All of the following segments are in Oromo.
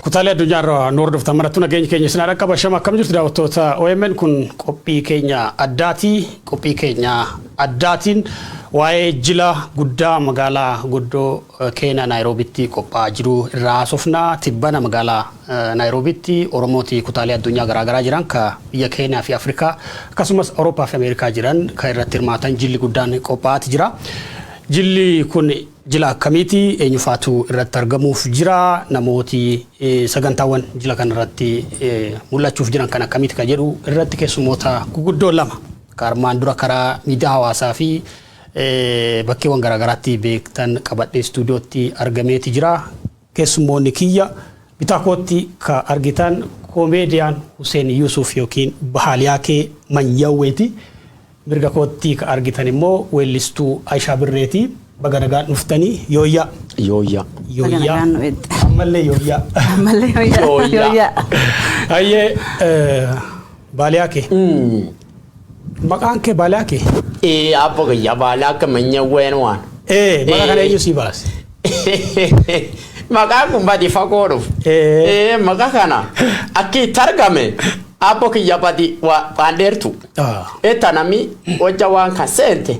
Kutaalee addunyaa irraa nu hordoftan marattuu nageenya keenya isin haadha qaba. Shama akkam jirtu daawwattoota OMN kun qophii keenya addaati. Qophii keenya addaatiin waa'ee jila guddaa magaalaa guddoo eh, Keeniyaa Naayiroobitti qophaa'aa jiru irraa haasofna. Tibbana magaalaa eh, Naayiroobitti Oromooti kutaalee addunyaa garaagaraa jiran ka biyya Keeniyaa fi Afrikaa akkasumas Awurooppaa fi Ameerikaa jiran kan irratti hirmaatan jilli guddaan qophaa'aati jira. Jilli kun Jila akkamiiti? Eenyufaatu irratti argamuuf jira? Namooti sagantaawwan jila kana irratti mul'achuuf jiran kan akkamiiti kan jedhu irratti keessummoota guguddoo lama kan armaan dura karaa miidiyaa hawaasaa fi bakkeewwan garaagaraatti beektan qabadhee istuudiyootti argameeti jira. Keessummoonni kiyya bitaa kootti ka argitan Komeediyaan Huseen Yuusuf ykn Bahaaliyaakee Manyawweeti. Mirga kootti ka argitan immoo weellistuu Ayishaa Birreeti. Baga nagaan dhuftanii. Yooyyaa! Yooyyaa! Baga nagaan nu eegde. Ammallee yooyyaa! Ammallee yooyyaa! Yooyyaa! Hayyee Baaliyaakee. Maqaan kee Baalaaqi? Ee, aabbo kiyya Baalaaq manya ween waan. Ee, maqaa kana eenyu sii baase? Maqaan kun badi fagoo dhufu. Ee. Ee, maqaa kana akki itti argame aabbo kiyya badi waa- waan dheertu. Ah. Eta nami hojja waan kan seente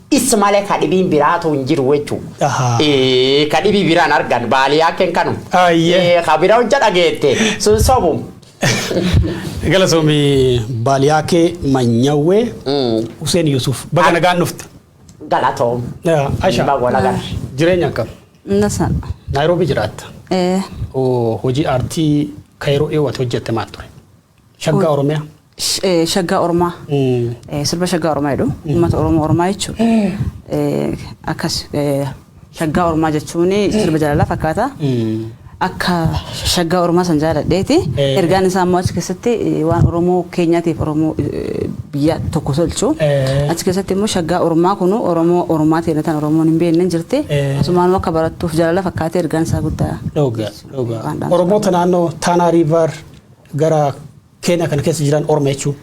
Is male ka dhibiin biraatu hin jiru jechu. Aha. Ee, ka dhibii biraan argan baaliyaa ken kanu. Ayyee. Ee, ka bira hojja dhageette sun sobu. Galatoomi baaliyaa kee manyawwee Mm, Huseen Yuusuf baga nagaan dhufte. Galatoom. Asha Baga wal agarre. jireenya akkam? Nasan. Naayiroobii jiraatta. Eh, Oo, Hojii aartii Kaayiroo dhiyooti hojjette maal ture? Shaggaa Oromiyaa. Sh- eh, Shaggaa Oromaa. Mm. Eh, Sirba Shaggaa Oromaa jedhu. Uummata Oromoo Oromaa jechuudha. Eh, Akkas eh, Shaggaa Oromaa jechuun sirba jaalalaa fakkaata. Mm. Akka Shaggaa Oromaa san jaaladheeti. Eh. Ergaan isaa immoo achi keessatti eh, waan Oromoo keenyaatiif Oromoo eh, biyya tokko tolchu. Eh. Achi keessatti immoo Shaggaa Oromaa kun Oromoo Oromaa ta'e tan Oromoon hin beekne hin jirti. Eh. Asumaan akka barattuuf jaalala fakkaatee ergaan isaa guddaa. Dhuga, dhuga. Waan dhaamsa. Oromoota naannoo Taanaa Riivar Gara Keenyaa kana keessa jiran orma jechuun.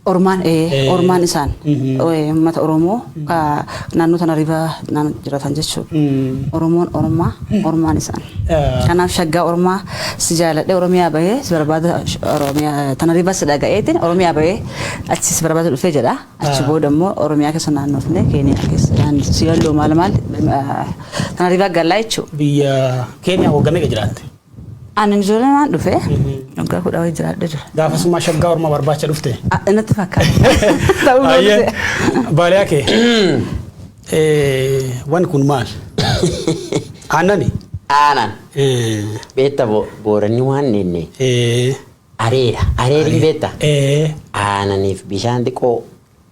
Ormaan ee ormaan isaan uummata Oromoo naannoo tana riba naannoo jiratan jechuudha. Oromoon ormaa ormaan isaan. Kanaaf shaggaa ormaa si jaaladhee Oromiyaa bahee si barbaada Oromiyaa tana riba si dhaga'eetiin Oromiyaa bahee achi si barbaada dhufee jedha. Achi booda immoo Oromiyaa keessa naannofnee Keeniyaa keessa si yalloo maal maal tana riba gallaa jechuudha. Biyya Keeniyaa waggaa meeqa jiraatte? Ani ijoolleedhaan dhufe waggaa kudha wayii jiraadhe jira. Gaafasumaa shaggaa orma barbaacha dhufte. Natti fakkaata. Ta'uu Ayyee baatee. baaliyaa kee. Eh, Wan kun maal? Aannani? Aanan. Eh, Beetta bo- booranni waan nenne eh, areera. Areeriin beetta. eh, Aananiif bishaan xiqqoo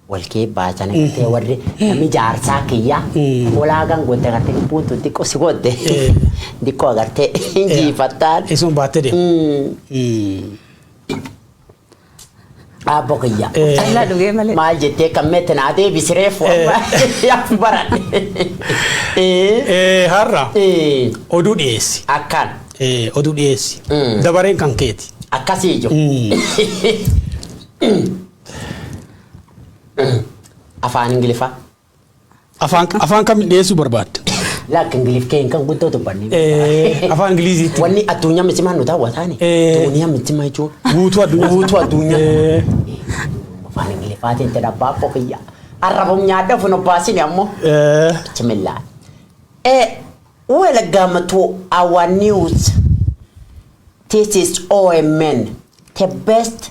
walkee baachana gartee warri namni jaarsaa kiyya molaagaan godda gartee lubbuun tun xiqqoo si godde xiqqoo agartee hin jiifattaan. Isuma baattee deema. Aabbo kiyya. Callaa dhugee malee. Maal jettee kan meette naa deebisi reefu amma yaaf baradhe. Eh, Har'a Eh, oduu dhiyeessi. Akkaan Eh, Oduu dhiyeessi. Mm. Dabareen kan keeti. akkasii jiru. Mm. Afaan Ingiliffaa. Afaan afaan kam dhiyeessuu barbaadda? Laakki Ingiliff kee kan guddoo dubbanne. Eh, Afaan Ingiliziitti. Wanni addunyaa michimaa nu daawwataani. Eh. Addunyaa michimaa jechuun. Guutuu addunyaa. Guutuu addunyaa. Eh, Afaan Ingiliffaatiin jedha abbaa koo kiyya. Arrabum nyaadha ofin obbaasini ammoo. eh, Bismillah. Eh, welcome to our news. This is OMN, the best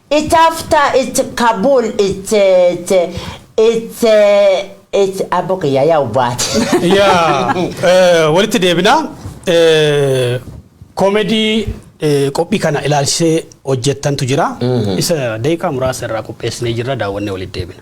It after it kabul it it it it abbo kiyya yaa ubbaati. yaa eh, walitti deebina eh, koomedii eh, qophii kana ilaalchisee hojjettantu jira isa daqiiqaa muraasa irraa qopheessinee jirra daawwannee walitti deebina.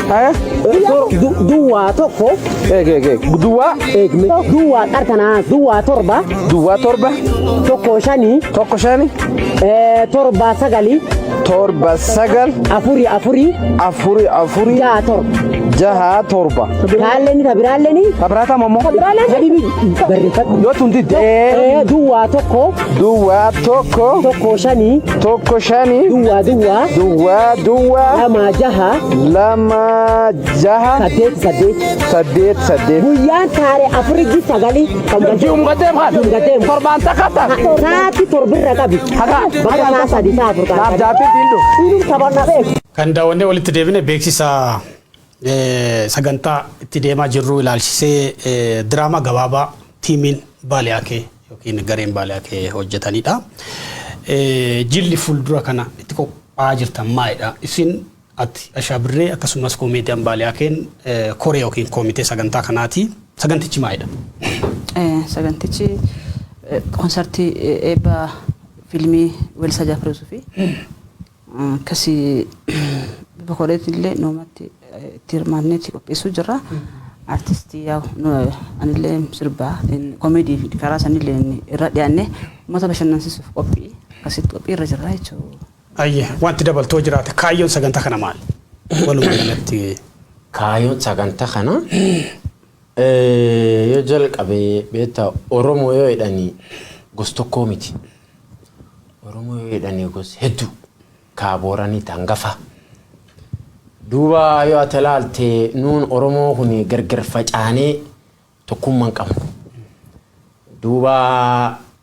Haya. Du- duwwaa tokko Eeg eeg eeg. Duwwaa. eegme duwwaa qartanaa duwwaa torba Duwwaa torba. tokko shanii Tokko shani. eh, torba sagalii Torba sagal. afurii afurii Afuri afuri. ja'a torba Jaha torba. kaalleeni tabiraalleeni Tabiraataa mammoo. tabiraalleen sadii barreeffadhu Yoo tun didde. Eh, duwwaa tokko duwwaa tokko tokko shanii tokko shanii duwwaa duwwaa duwwaa duwwaa lamaa jaha lama jaha saddeet saddeet saddeet saddeet guyyaan taare afuriji sagalii kan wal Ji'umgateem kan Ji'umgateem. torbaan takka takka saati torbirra qabi Haga. bakka isaa sadi isaa afur naaf taate. jaatee diindu. Inni taphanna beeku. Kan daawwannee walitti deebine beeksisa Sagantaa itti deemaa jirru ilaalchisee diraamaa gabaabaa tiimiin Baalee Akee yookiin gareen Baalee Akee hojjetanidha. Jilli fuuldura kana itti qophaa'aa jirtan maalidha? Isin ati Ashaa Birree akkasumas koomeediyaan Baalee Akeen koree yookiin koomitee sagantaa kanaati. Sagantichi maalidha? Sagantichi konsartii eebba fiilmii Weellisaa Jaafar Yuusufii. Akkasi bokoreetti illee nuumatti itti hirmaannee itti qopheessuu jirra. Artistii yaa anillee sirbaa komeedii fi karaa sanillee irra dhiyaannee uummata bashannansiisuuf qophii akkasitti qophii irra jirra jechuudha. Ayye wanti dabaltoo jiraate kaayyoon sagantaa kana maal? Walumaa galatti. Kaayyoon sagantaa kana yoo jalqabe beektaa Oromoo yoo jedhani gos tokkoo miti. Oromoo yoo jedhanii gos heddu kaa booranii taangafa. Duuba yoo ati ilaalte nuun Oromoo kun gargar facaanee tokkummaa hin qabnu. Duuba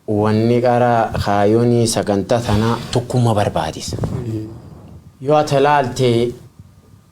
wanni qara kaayyoonii sagantaa tanaa tokkummaa barbaadisa. Yoo ati ilaalte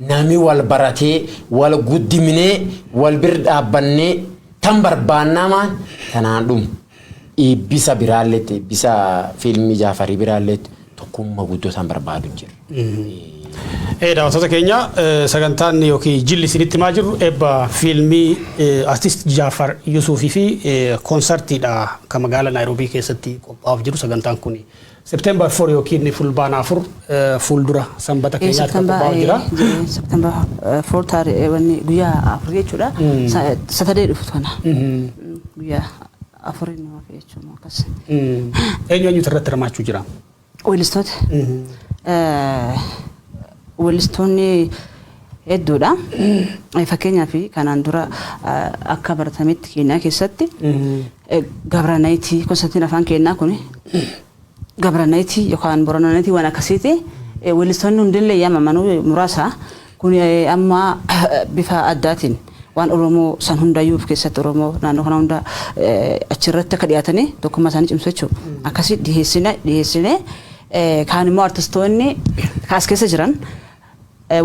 Nami wal baratee, wal guddiminee, wal bir dhaabbannee tan barbaannaa maan tanaan dhumu. Eebbisa biraalleetti, eebbisa fiilmii Jaafarii biraalleetti tokkumma guddoo tan barbaadu jirra. Ee daawwattoota keenya sagantaan yookiin jilli isinitti himaa jirru eebba fiilmii artist Jaafar Yusuufii fi koonsartiidha kan magaala Naayiroobii keessatti qophaa'uuf jiru sagantaan kun September 4 ykn Fulbaana 4 fuuldura Sanbata keenyaatti kan qophaa'u jira. September 4 taaree wanni guyyaa afur jechuudha. Satadee dhuftu kana. Guyyaa afuriin nu hafe jechuudha akkas. Eenyu eenyutu irratti hirmaachuu jira? Weellistoota. Weellistoonni hedduudha. Fakkeenyaaf kanaan dura akka baratametti Keeniyaa keessatti Gabranayiti kosatiin afaan keennaa kun gabranayiti yookaan borananayiti waan akkasiiti. Weellistoonni hundillee yaamamanu muraasa. Kun amma bifa addaatiin waan Oromoo san hundayyuu of keessatti Oromoo naannoo kana hunda achirratti akka dhiyaatanii tokkummaa isaanii cimsu jechuudha. Akkasii dhiyeessine dhiyeessine kaan immoo artistoonni kaas keessa jiran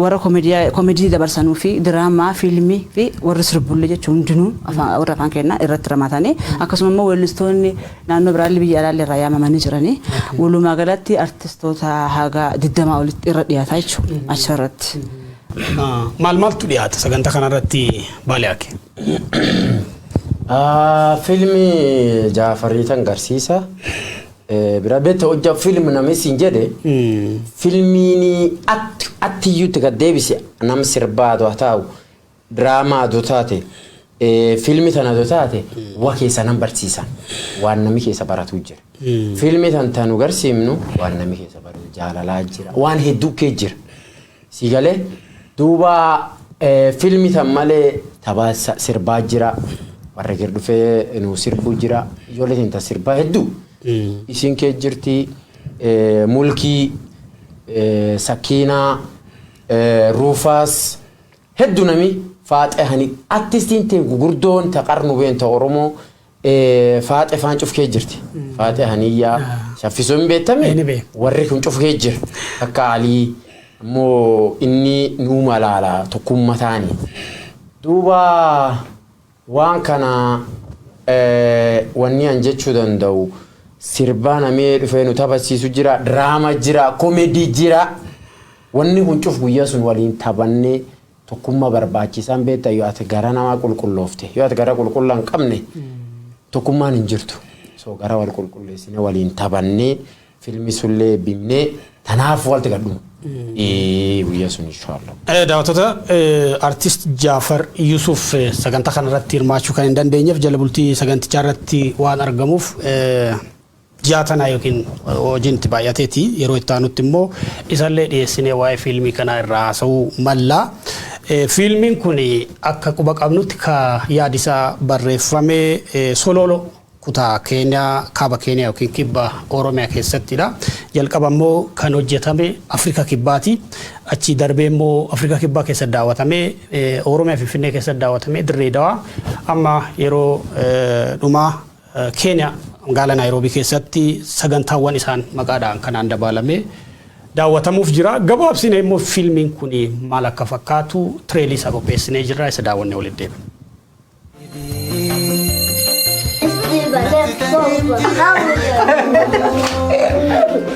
Warra komedii dabarsanuu fi diraamaa, fiilmii fi warri sirbullee jechuun hundinuu warra afaan keenyaa irratti hirmaatanii akkasuma immoo weellistoonni naannoo biraallee biyya alaallee irraa yaamamanii jiranii walumaa galatti artistoota haga digdamaa olitti irra dhiyaataa jechuudha achirratti. Maal maaltu dhiyaata sagantaa kanarratti Baaliyaake? Fiilmii Jaafarii tan garsiisa. Bira bete hojja film nami siin jedhe filmiini atti atti iyyuutti gad deebise nam sirbaa adu hataa'u diraamaa adu taate filmi tan adu taate wa keessa nam barsiisan waan nami keessa baratuu jira. Filmi tan tanu garsiimnu waan nami keessa baratu jaalalaa jira waan hedduu kee jira. Sii gale duuba film tan male taba sirbaa jira warri gir dhufe nu sirbu jira ijoollee tan tan sirbaa heddu isin kee jirti mulkii sakiinaa ruufaas heddu nami faaxe hani artistiin tee gugurdoon ta qarnu been ta oromoo Faaxe faan cuf kee jirti. Faaxe haniyyaa shaffisuu hin beektame warri kun cuf kee jira. Akka alii immoo inni nuu malaala tokkumma taani. Duuba waan kana wanni an jechuu danda'u sirbaa namee dhufee nu taphachiisu jira diraama jira komedii jira. Wanni kun cuf guyyaa sun waliin taphannee Tokkumma barbaachisa hin beekta yoo ati gara namaa qulqulloofte yoo ati gara qulqullaa hin qabne tokkummaan hin jirtu. So gara wal qulqulleessine waliin taphannee filmi sullee bimnee tanaaf walti gadhuma. Guyyaa sun inshaallah. Daawwattoota artist Jaafar Yusuuf sagantaa kanarratti hirmaachuu kan hin dandeenyeef jala bultii sagantichaa irratti waan argamuuf Ji'a kanaa ykn hojiin itti baay'ateeti. Yeroo itti aanutti immoo isallee dhiyeessinee waa'ee fiilmii kanaa irraa haasa'uu malla. Fiilmiin kun akka quba qabnutti ka yaadi isaa barreeffame Solooloo kutaa Keeniyaa, Kaaba Keeniyaa ykn Kibba Oromiyaa keessatti dha. Jalqaba immoo kan hojjetame Afrika Kibbaati. Achii darbee immoo Afrika Kibbaa keessatti daawwatamee Oromiyaa Finfinnee keessatti daawwatamee Dirree Dawaa amma yeroo dhumaa Keeniyaa magaala Naayiroobii keessatti sagantaawwan isaan maqaa dha'an kanaan dabaalamee daawwatamuuf jira. Gabaabsine immoo fiilmiin kun maal akka fakkaatu tireelii isaa qopheessinee jirra isa daawwannee walitti deebina. It's Eva, that's Boba. How are you?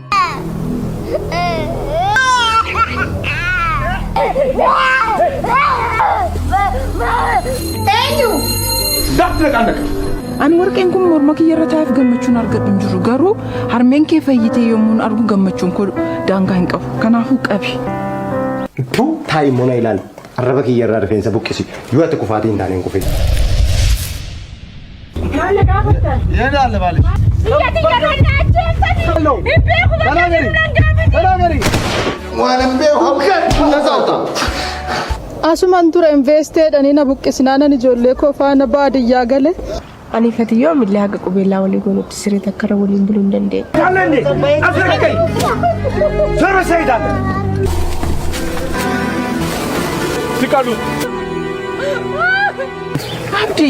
Ani warqeen kun morma kiyya irra taa'eef gammachuun argadhu hin jiru garuu harmeen kee fayyitee yommuu argu gammachuun koo daangaa hin qabu kanaafuu qabi. Tu taa'i mona ilaali. Arraba kiyya irraa rifeensa buqqisi. Yoo ati kufaatii hin taane hin kufin. Maal na gaafattan? Yeenaale maaliif? Biyya tiyya irraa na ajjeessanii. Hin beeku bakka jiru nan gaafatanii. Waan hin beeku abdaan kun na saata. Asuman ture investeedhanii na buqqisnaanan ijoollee koo faana baadiyyaa gale. Ani fati yoo millee haga qubeellaa walii goonutti siree takka irra waliin buluu hin dandeenye. Kaallanne asirra kai. Sirra seetaan. Siqalu. Abdi.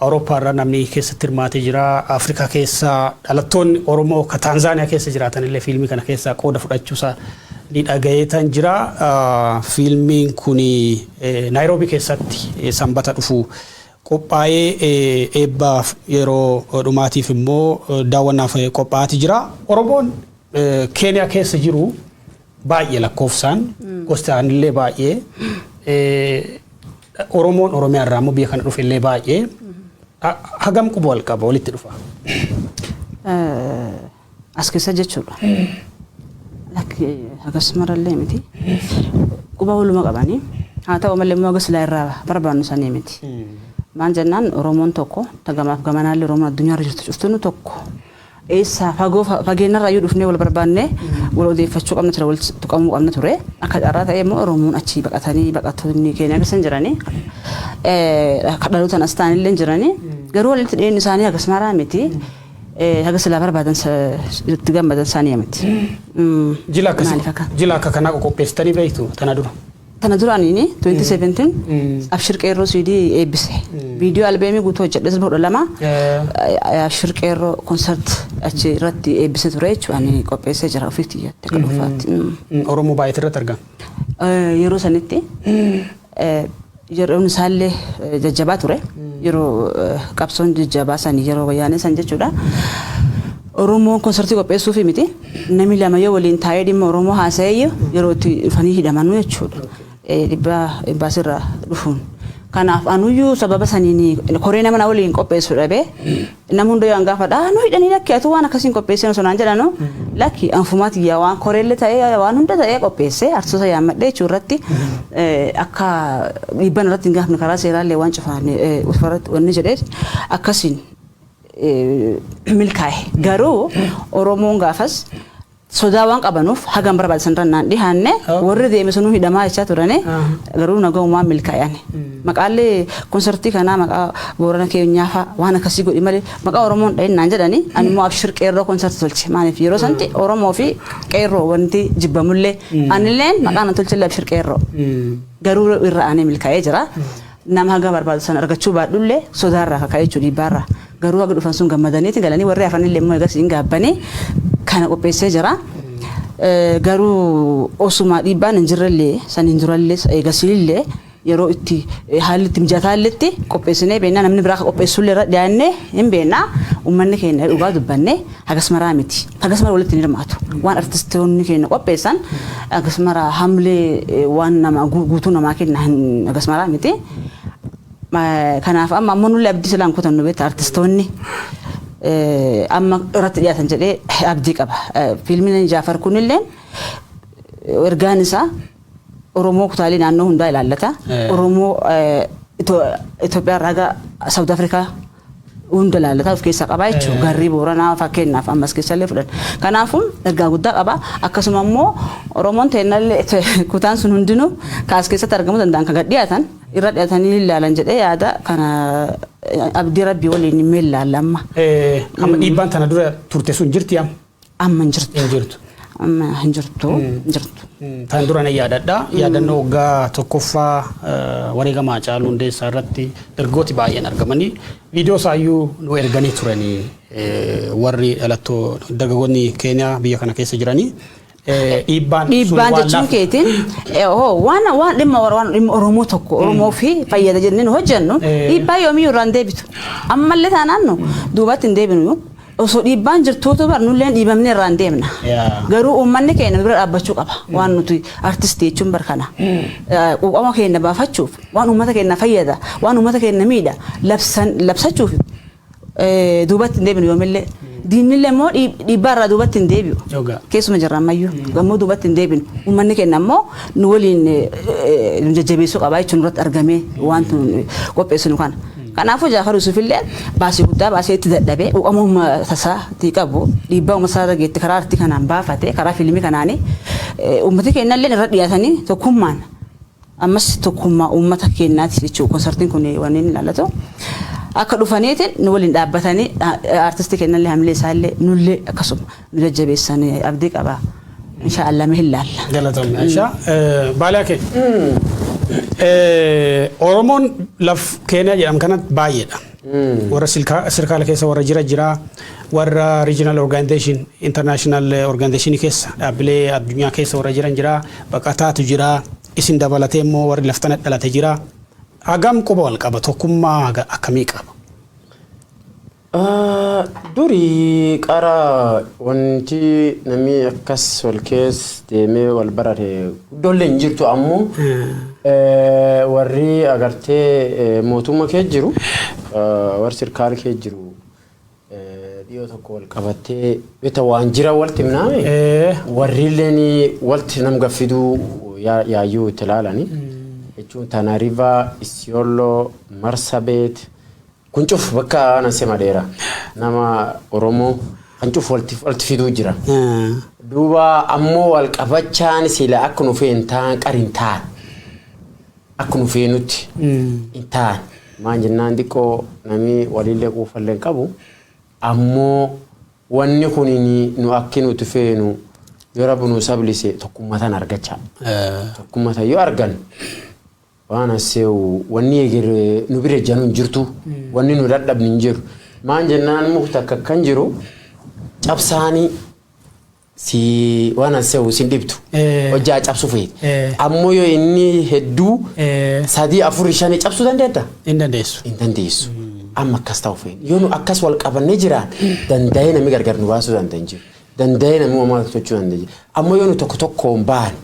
Awurooppaa irraa namni keessatti hirmaate jira. Afrikaa keessa dhalattoonni Oromoo ka Taanzaaniyaa keessa jiraatan illee fiilmii kana keessaa qooda fudhachuu isaa ni dhagayeetan jira. Fiilmiin kun Naayiroobii keessatti sanbata dhufu qophaa'ee eebbaaf yeroo dhumaatiif immoo daawwannaaf qophaa'aati jira. Oromoon Keeniyaa keessa jiru baay'ee lakkoofsaan gosti aanillee baay'ee Oromoon Oromiyaa irraa immoo biyya kana dhufe illee baay'ee hagam quba wal qaba walitti dhufa. As keessa jechuudha. Lakki hagas marallee miti. Quba waluma qabanii haa ta'u malee immoo hagas silaa irraa barbaannu sanii miti. Maan jennaan Oromoon tokko tagamaaf gamanaallee Oromoon addunyaa irra jirtu cuftuun tokko. Eessaa fagoo fageenyarraayyuu dhufnee wal barbaannee wal odeeffachuu qabna ture wal tuqamuu qabna ture. Akka carraa ta'ee immoo Oromoon achii baqatanii baqattoonni Keeniyaa keessa hin jiranii kan dhalootaan as ta'an illee hin jiranii garuu walitti dhiyeenyi isaanii hagas maraa miti haga silaa barbaadan itti gammadan isaanii miti. Jila akkasii jila akka kanaa qopheessitanii beektu tana dura. Tana dura ani 2017 Abshir Qeerroo CD eebbise. Viidiyoo albeemii guutuu hojjedhe sirba kudha lama Abshir Qeerroo konsert achi irratti eebbise ture jechuudha. Ani qopheessee jira ofii kiyyaatti akka dhuunfaatti. Oromoo baay'eetu irratti argama. Eh, Yeroo sanitti eh, yeroon isaallee eh, jajjabaa ture. Yeroo eh, qabsoon jajjabaa san yeroo wayyaanee san jechuudha. Oromoon konsartii qopheessuufii miti. Namni lama yoo waliin taa'ee dhimma Oromoo haasa'eeyyu yeroo itti dhufanii hidhamanu jechuudha. Dhibbaa imbaasiirraa dhufuun. Kanaaf anuyyuu sababa saniin koree nama na waliin qopheessu dhabee nama hunda yoo an gaafadha nu hidhanii lakki atuu waan akkasiin qopheessee osoo naan jedhanu lakki anfumaa tiyyaa waan koreellee ta'ee waan hunda ta'ee qopheessee artistoota yaammadhee jechuu irratti akka dhiibban irratti hin gaafne karaa seeraallee waan cufaan wanni jedhee akkasiin milkaa'e. Garuu Oromoon gaafas sodaa waan qabanuuf hagam barbaade sanirra naan dhihaanne warri deeme sunuu hidhamaa jechaa turani garuu nagaumaan milkaa'ani. Maqaallee konsartii kanaa maqaa boorana keenyaa fa'aa waan akkasii godhi malee maqaa Oromoon dhahin naan jedhani ani immoo abshir qeerroo konsartii tolche maaliif yeroo santi Oromoo fi qeerroo wanti jibbamullee anilleen maqaa nan tolchillee abshir qeerroo garuu irra aanee milkaa'ee jira. Nama haga barbaadu san argachuu baadhullee sodaarraa ka ka'e jechuun dhiibbaarraa. Garuu haga dhufan sun gammadaniiti galanii warri hafanillee immoo eegas hin gaabbanii kana qopheessee jira. Garuu osuma dhiibbaan hin jirrellee saniin durallee eegasiillee yeroo itti haalli itti mijataalletti qopheessinee beennaa namni biraa ka qopheessullee irra dhiyaannee hin beennaa uummanni keenya dhugaa dubbanne. Hagas maraa miti. Hagas mara walitti hin hirmaatu. Waan artistoonni keenya qopheessan hagas mara hamlee eh, waan nama gu- guutuu namaa kenna hin hagas maraa miti. Eh, Kanaaf amma ammoo nullee abdii silaan kutannu beekta artistoonni eh, amma irratti dhiyaatan jedhee abdii qaba. Eh, Fiilmiin Jaafar kunillee eh, ergaan isaa Oromoo kutaalee naannoo hundaa ilaallata. Eh. Oromoo eh, Ito- Itoophiyaa irraa haga Saawud Afrikaa hunda ilaallata of keessaa qaba jechuudha. Garri Booranaa fakkeenyaaf amma as keessallee fudhanna. Kanaafuu ergaa guddaa qaba. Akkasuma immoo Oromoon teennallee kutaan sun hundinuu kan as keessatti argamuu danda'an kan gad dhiyaatan irra dhiyaatanii ilaalan jedhee yaada kana abdii rabbii waliin hin meellaalla amma. Amma dhiibbaan tana dura turte sun jirti amma. Amma hin jirtu. Hin jirtu. Amma hin jirtu. Hin jirtu. Tan dura na yaadadha. Yaadannoo waggaa tokkoffaa eh, wareegama Haacaaluu Hundeessaa irratti ergooti baay'een argamanii viidiyoo isaayyuu nu erganii turanii eh, warri dhalattoo dargaggoonni Keeniyaa biyya kana keessa jiranii eh, dhiibbaan sun Dhiibbaan waan jechuun laaf- keetiin eh, hoo, waan waan dhimma Oro- waan dhimma Oromoo tokko Oromoo fi fayyada jennee nu hojjennu Eh. dhiibbaa yoomiyyuu irraa hin deebitu. Ammallee taanaan nu duubatti hin deebinu. Osoo dhiibbaan jirtuu utuu bar nulleen dhiibamnee irraan deemna. Yaa. Garuu uummanni keenya nu bira dhaabbachuu qaba. Waan nuti artistii jechuun bar kana. Eh, Quuqama keenya baafachuuf waan uummata keenya fayyada waan uummata keenya miidha labsan labsachuuf eh, duubatti hin deebinu yoomillee. Diinnillee immoo dhiib- dhiibbaa irraa duubatti hin deebi'u. Dhugaa. Keessuma jirra ammayyuu. Gammoo duubatti hin deebinu. Uummanni keenya ammoo nu waliin eh, eh, nu jajjabeessuu qaba jechuun irratti argamee waan qopheessinu kana. Kanaafuu Jaafar Yuusufillee baasii guddaa baasee itti dadhabee quuqama uummata isaa tii qabu dhiibbaa uummata isaa irra geette karaa artii kanaan baafate karaa fiilmii kanaani uummati keennalleen irra dhiyaatanii tokkummaan ammas tokkummaa uummata keennaatiif jechuu konsartiin kun wanni inni ilaallatu akka dhufaniitiin nu waliin dhaabbatanii aartistii keennallee hamilee isaallee nullee akkasuma. nu jajjabeessan abdii qaba insha Allah mee hin laalla. Galatoomii Aisha. Baalee Akee. Oromoon laf Keeniyaa jedhamu kanatti baay'eedha. Warra silkaa- sirkaala keessa warra jira jira warra regional organization international organization keessa dhaabbilee addunyaa keessa warra jiran jira baqataatu jira isin dabalatee immoo warri laftana dhalate jira. Hagam quba wal qaba tokkummaa haga akkamii qaba. Ah, duri qara wanti nami akkas wal kees deemee wal barate guddollee hin jirtu ammoo eh, warri agartee eh, mootumma kee jiru eh, warri sirkaal kee jiru eh, dhiyoo tokko wal qabattee bita waan jira walti himnaame Eh. warriilleen walti nam gaffiduu yaa- yaayyuu itti ilaalani jechuun tanariva isiyooloo marsabeet Kun cuf bakka ana sema dheera nama Oromoo kan cuf walti fiduu jira. Duuba ammoo wal qabachaan sila akka nu feen taan qar hin taan. Akka nu feenutti hin taan. Maan jennaan xiqqoo namni walillee quufallee hin qabu. Ammoo wanni kun nu akki nuti feenu yoo rabbi nu sablise tokkummatan argachaa. Tokkummatan yoo argan Waan hasseewu wanni eger nu bira ejjanu hin jirtu wanni nu dadhabni hin jiru maan jennaan muk takka kan jiru cabsaani si waan hasseewu sin dhibdu Eh. hojjaa cabsu feeti Eh. ammoo yoo inni hedduu Eh. sadii afur shanii cabsuu dandeetta Hin dandeessu. hin dandeessu amma akkas ta'u feena yoo nu akkas wal qabannee jiraan danda'ee namni gargar nu baasuu danda'a hin jiru danda'ee namni uumamaa tochuu danda'a hin jiru ammoo yoo nu tokko tokkoon baane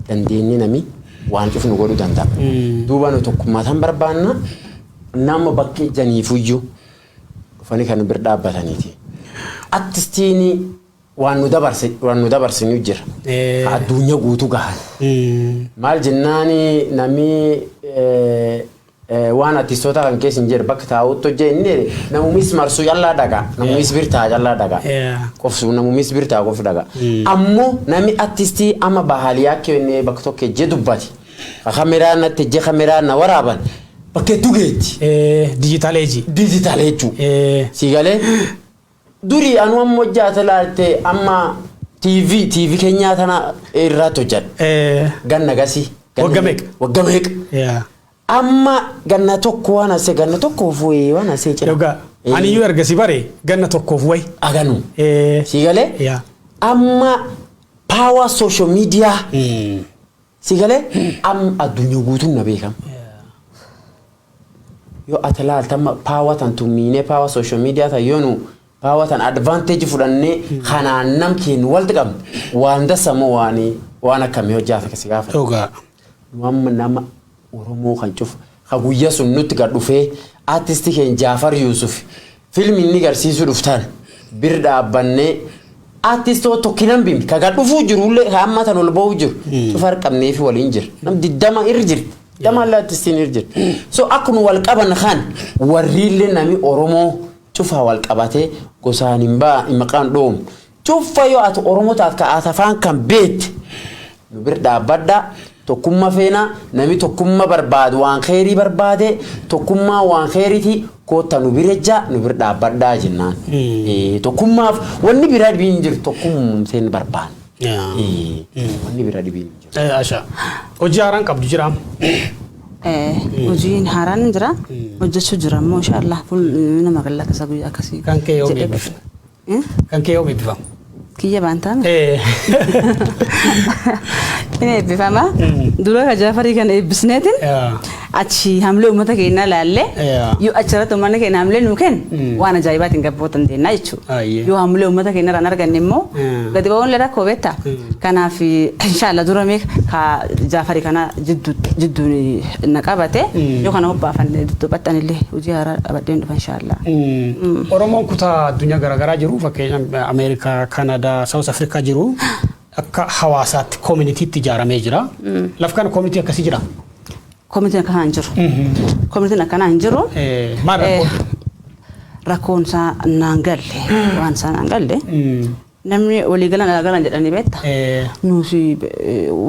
dandeenye nami waan cuf nu godhu danda'a. Duuba nu tokkummaa tan barbaanna nama bakka ijjaniifuyyu dhufanii kan nu bir dhaabbataniiti. Attistiini waan nu dabarse waan nu dabarsinu jira. Eh. Ka Addunyaa guutuu gahan. Maal jennaani namni eh, Waan artistoota kan keessa hin jirre bakka taa'utti hojja inni jedhe namumis marsuu callaa dhaga namumis bir ta'a callaa dhaga Yeah. qofsu namumis bir ta'a qof dhaga ammoo namni artistii amma bahaaliyaa kenne bakka tokko ejje dubbate ka kameraa natti ejje kameraa na waraaban bakka hedduu geetti Eh, digital age. diijitaal jechuudha. Eh, Sii galee Durii anuu amma hojjaate laalte amma TV TV keenyaa tana irraatti hojjadhe. Eh, Ganna gasii. ganna Wagga meeqa? Wagga meeqa? yeah. Amma ganna tokko waan asee ganna tokko fuuyee waan asee cina. Dhugaa. Ani iyyuu erga si bare ganna tokkoof wayi. Aganu. Eh, Sii galee? yeah. Amma power social media Mm. Si galee am addunyaa guutuun na beekam. Yoo ati laalta amma paawa tan tummiinee paawa sooshaal miidiyaa tan yoo nu paawa tan advaanteeji fudhannee kanaan nam keenya walitti qabne waan dassa moo waan waan akkamii hojjaata si gaafata. Dhugaa. Nu amma nama oromoo kan cufa ka guyya sun nutti gad dhufee artist keen jaafar yusufi film inni garsiisu dhuftan bir dhaabbannee artist hoo tokki nambimn ka gad dhufuu jiru illee ka amma tan ol bahuu jiru cufa har qabneefi waliin jira nam diddama ir jirti diddama illee artistiin ir jirti so akka nu wal qaban kan warri illee nami oromoo cufa wal qabatee gosaan hin baa maqaan dhoomu Tuffa yoo ati oromo taat ka asafaan kan beet nu bir dhaabbadha tokkumma feena nami tokkumma barbaad waan keerii barbaade tokkummaa waan keeriti kootta nu bir ejja nu bir dhaabbadha jennaan Ee, tokkummaaf wanni bira dhibiin hin jiru tokkumseen barbaanne Yaa. Ee, wanni bira dhibiin hin jiru Eh, Asha. Hojii haaraan qabdu jira. Eh, hojiin haaraan hin jira hojjechuu jira immoo inshaallah fuul nama gallakasa guyyaa akkasii Kan kee yoo jedhee beeksifne. Kan kee yoom eebbifama? Kiyya baantaame. Inni eebbifama. Dura ka Jaafarii kan eebbisneetiin achi hamlee uummata keenyaa laallee yoo achirratti uummanni keenya hamlee nuu kennu waan ajaa'ibaatiin gabboo dandeenya jechuudha. Yoo hamlee uummata keenya irraa hin arganne immoo gadi ba'uun illee rakkoo beektaa. Kanaaf inshaallah dura mee ka Jaafarii kana jidduun na qabate yoo kana hobbaafanne dudduubattan illee hojii haaraa qabadheen dhufa inshaallah. Oromoon kutaa addunyaa garaagaraa jiru fakkeenya Ameerikaa, Kanadaa, Saawus Afrikaa jiru akka hawaasaatti koominitiitti ijaaramee jira. Laf kana koominitii akkasii jira. Koomitiin akkanaa hin jiru. Koomitiin akkanaa hin jiru. Eh, maal rakkoon? Eh, Rakkoon isaa naan galle waan isaa naan galle Namni walii galan alaa galan jedhanii beekta. Nuusi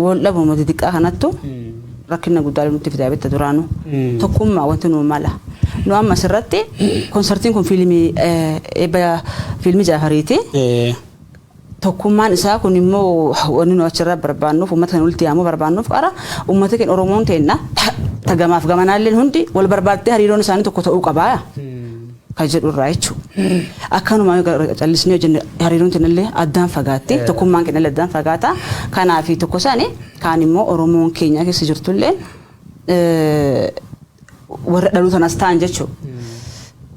wal dhabuma xixiqqaa kanattu rakkina guddaa nutti fidaa beekta duraanu. Tokkummaa wanti nuu mala. Nu amma asirratti konsartiin kun fiilmii eebba fiilmii Jaafariiti. Tokkummaan isaa kun immoo wanni nu achirraa barbaannuuf uummata kan walitti yaamuu barbaannuuf qara uummata keenya Oromoon teenna tagamaaf gamanaalleen hundi wal barbaaddee hariiroon isaanii tokko ta'uu qabaa. ka jedhu irraa jechuu. Akkanuma yoo gara callisnee yoo jenne hariiroon teenna illee addaan fagaatti, tokkummaan keenna illee addaan fagaata. Kanaafi tokko sani, kaan immoo Oromoon keenya keessa jirtu illeen warra dhaluu tanas ta'an jechuu.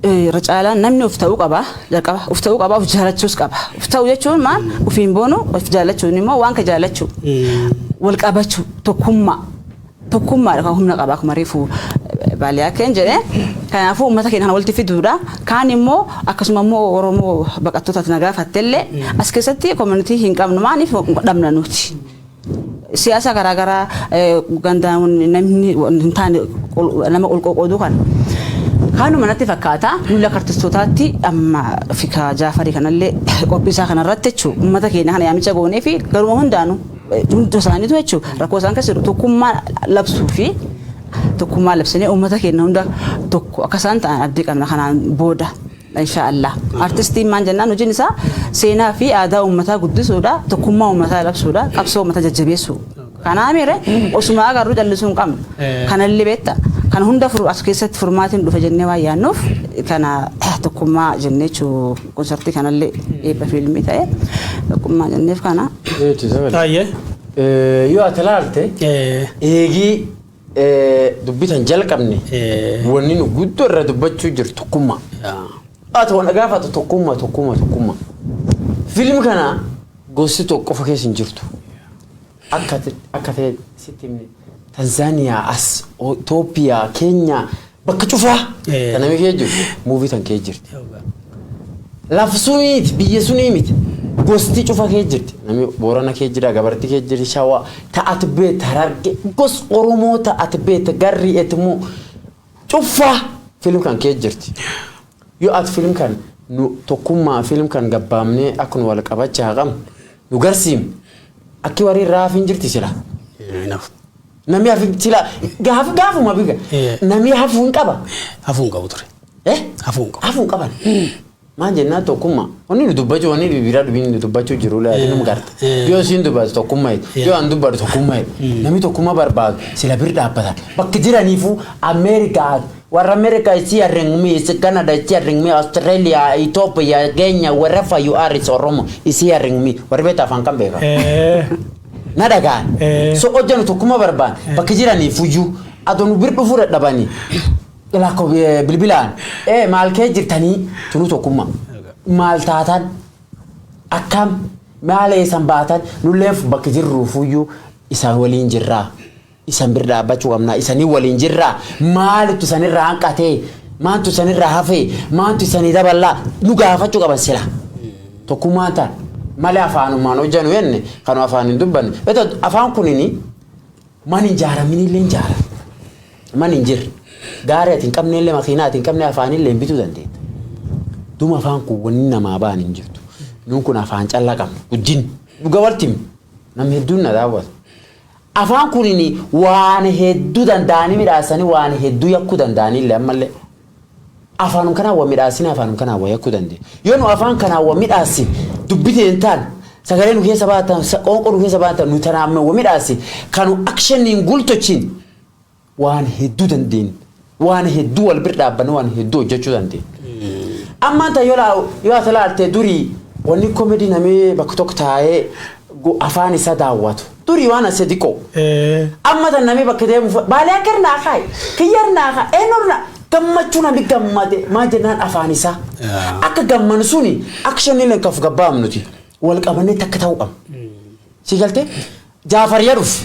Irra caalaan namni of ta'uu qaba, jalqaba of ta'uu qaba, of jaalachuus qaba. Of ta'uu jechuun maal? Ofiin boonuu, of jaalachuun immoo waan ka jaalachuu, wal qabachuu, tokkummaa. Tokkummaadha kan humna qaba akkuma reefu baaliyaakeen jedhe. Kanaafuu uummata keenya kana walitti fiduudha. Kaan immoo akkasuma immoo Oromoo baqattootatti na gaafattellee as keessatti koominitii hin qabnu maaliif dhabna nuti. Siyaasa garaagaraa gandaan namni hin taane nama qolqoqooduu kana. Kaanuma natti fakkaata nulla kartistootaatti amma fikaa jaafarii kanallee qophiisaa kanarratti jechuudha uummata keenya kana yaamicha goonee fi garuma hundaanuu. Hunda isaaniitu jechuun rakkoo isaan keessa jiru tokkummaa labsuu fi tokkummaa labsinee uummata keenya hunda tokko akka isaan ta'an abdii qabna kanaan booda. Insha Allah. Artistiin maal jennaan hojiin isaa seenaa fi aadaa uummataa guddisuudha, tokkummaa uummataa labsuudha, qabsoo uummataa jajjabeessuu. Kanaa miire osuma agarru callisuu hin qabnu. Kanallee beekta. Kana hunda as keessatti furmaatiin dhufa jennee waan yaannuuf kana tokkummaa jennee jechuudha. Konsartii kanallee eebba fiilmii ta'ee tokkummaa jenneef kana. Taayyee. Yoo ati ilaalte eegii dubbitan jalqabne wanni nu guddoo irra dubbachuu jiru tokkummaa. Ati waan gaafatu tokkummaa tokkummaa tokkummaa. Fiilmi kana gosti tokko qofa keessa hin jirtu. Akka akka ta'e sitti himne Tanzaaniyaa as Itoophiyaa Keenyaa bakka cufaa Eh. kan namni kee jiru muuvii tan kee jirti. Lafa suniiti biyya sunii miti gosti cufa kee jirti namni boorana kee jira gabarti kee jirti shawaa ta'at beeta hararge gos oromoo ta'at beeta garri etmoo Cuffaa film kan keessa jirti. Yoo at film kan nu tokkummaa film kan gabbaamnee akka nu wal qabacha haa qabnu nu garsiim akki warri irraa hafin jirti sila. Naaf. Namni hafin sila gaaf gaafuma biga. Yeah. Namni hafuu hin qaba. Hafuun qabu ture. Eh? Hafuun qabu. Hafuu hin qaban. Maan jennaa tokkumma. Wanni nu dubbachu wanni bibiraa dubiin nu dubbachu jiru laati num garta. Yoo isiin dubbatu tokkumma jedhu. Yoo an dubbadhu tokkumma jedhu. Namni tokkumma barbaadu sila bir dhaabbatan. Bakka jiraniifuu Ameerikaa warra Ameerikaa is hearing me, is Canada is hearing me, Australia, Ethiopia, Kenya, wherever you are is Oromo is hearing me. Warri beektaa afaan kan beekaa. Na dhagaan. So hojjanu tokkumma barbaan bakka jiraniifuyyuu adoo nu bir dhufuu dadhabanii. Lakko bilbilaan ee maal kee jirtanii tunuu tokkummaa maal taatan akkam maal eessan baatan nullee bakka jirru fuyyuu isaan waliin jirraa isan bir dhaabbachuu qabnaa isanii waliin jirraa maalitu isanirraa hanqatee maantu isanirraa hafee maantu isanii daballaa nu gaafachuu qaban sila tokkummaan taan malee afaanumaan hojjanu jenne kanuma afaan hin dubbanne beektaa afaan kunini Man hin jaaraminillee hin jaaran. Man hin jirre. Gaarii ati hin qabneellee makiinaa ati hin qabne afaanillee hin bituu dandeetta. Duma afaan kun wanni namaa ba'an hin jirtu. Nuun kun afaan callaa qabna. Guddin dhuga walti himu. Namni hedduun na daawwata. Afaan kunin waan hedduu danda'anii midhaasanii waan hedduu yakkuu danda'anillee ammallee. Afaanum kanaan wa midhaassine afaanum kanaan wa yakkuu dandeenya. Yoo nu afaan kanaan wa midhaassine dubbi teen taan sagalee nu keessa bahan taan qoonqoo nu keessa bahan taan nu tanaan wa midhaassine kanu actioniin gultochiin waan hedduu dandeenya. Waan hedduu wal bir dhaabbanne waan hedduu hojjechuu dandeenya. Ammaan tan yoo yoo ati laalte durii wanni komedii namee bakka tokko taa'ee afaan isaa daawwatu. Durii waan asse diqoo. Amma tanna mee bakka deemu fa baalee akka irnaa kaayi. Kiyya irnaa kaa eenyu irnaa gammachuu nami gammade maa jennaan afaan isaa. Akka gamman suni action illee kaf gabbaam nuti wal qabannee takka ta'uu qabna. Sii galtee jaafar ya dhufu.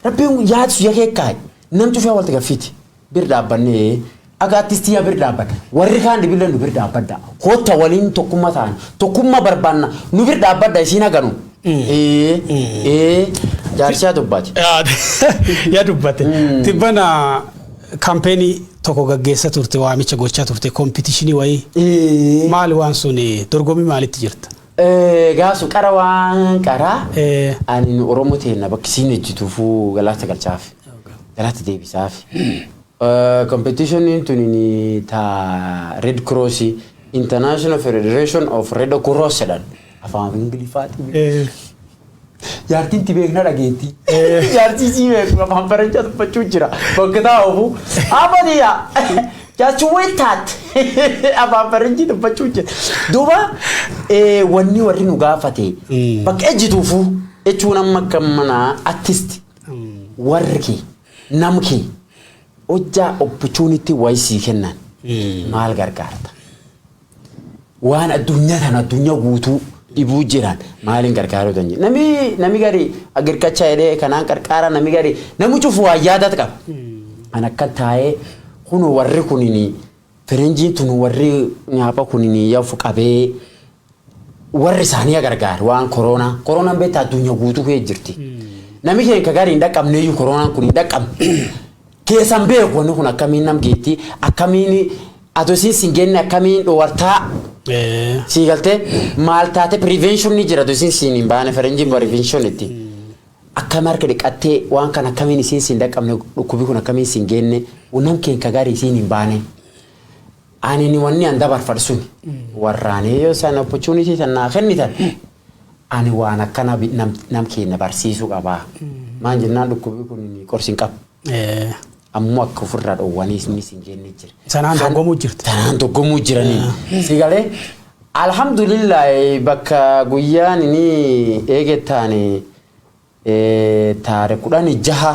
Rabbiin yaad sun ya keekkaay. Nam cufee walti gaffiiti. bir dhaabbanne Akka attis tiya bir dhaabbata. Warri kaan dhibille nu bir dhaabbadda. Kotta waliin tokkumma taana. Tokkumma barbaanna. Nu bir dhaabbadda isiin haganu. Ee ee jaarsiyaa dubbaati. Yaa dubbate. Tibbana kampeenii tokko gaggeessa turte waamicha gochaa turte kompitishinii wayii. Ee. Maali waan sun dorgommii maalitti jirta? Gaasu qara waan qara ani nu oromo teenna bakki siin ejjituufu galaata galchaaf galaata deebisaaf competitionin tunini ta red cross international federation of red cross jedhan afaan ingiliffaatiin Jaartiin ti beekna dhageetti. Jaartii sii beeku afaan faranchaa dubbachuu jira. Bakka taa ofu. Amaniya. Just wait that. Afaan faranjii dubbachuu jira. Duuba eh, wanni warri nu gaafate Mm. bakka ejjituufu jechuun amma akka mana artist warri kee nam kee hojjaa opportunity wayii sii kennan maal gargaarta? waan addunyaa tan addunyaa guutuu dhibuu jiraan maaliin gargaaruu dandeenya. Nami nami gari agirqachaa jedhee kanaan qarqaara nami gari nami cufu waa yaadat qaba. An akkan taa'ee kun warri kunini firenjiin tun warri nyaapha kunini yafu qabee warri isaanii gargaar waan koroonaa koroonaan beektaa addunyaa guutuu kee jirti. Nami keenya gari hin dhaqqabneeyyuu koroonaan kun hin dhaqqabne. Keessan beeku wanni kun akkamiin nam geetti akkamiin ado isiin sin geenne akkamiin dhowartaa sii galtee maal taate prevention ni jira ado isiin siin hin baane faranjiin prevention itti akkam harka dhiqattee waan kan akkamiin isiin siin dhaqqabne dhukkubi kun akkamiin siin geenne nam keen ka gaarii isiin hin baane ani ni wanni an dabarfadhu sun warraanee yoo isaan opportunity tan naa kennitan Ani waan akkana bi- nam, nam keenna barsiisu qaba. Maan jennaan dhukkubii kun qorsi hin qabu. Eh, Ammoo akka ofirra dhoowwaniis ni sin jenne jira. Sanaan Kan- dorgomuu jirti. Tanaan dorgomuu jiranii. Si galee alhamdulillah bakka guyyaan inni eegettaani taare kudhanii jaha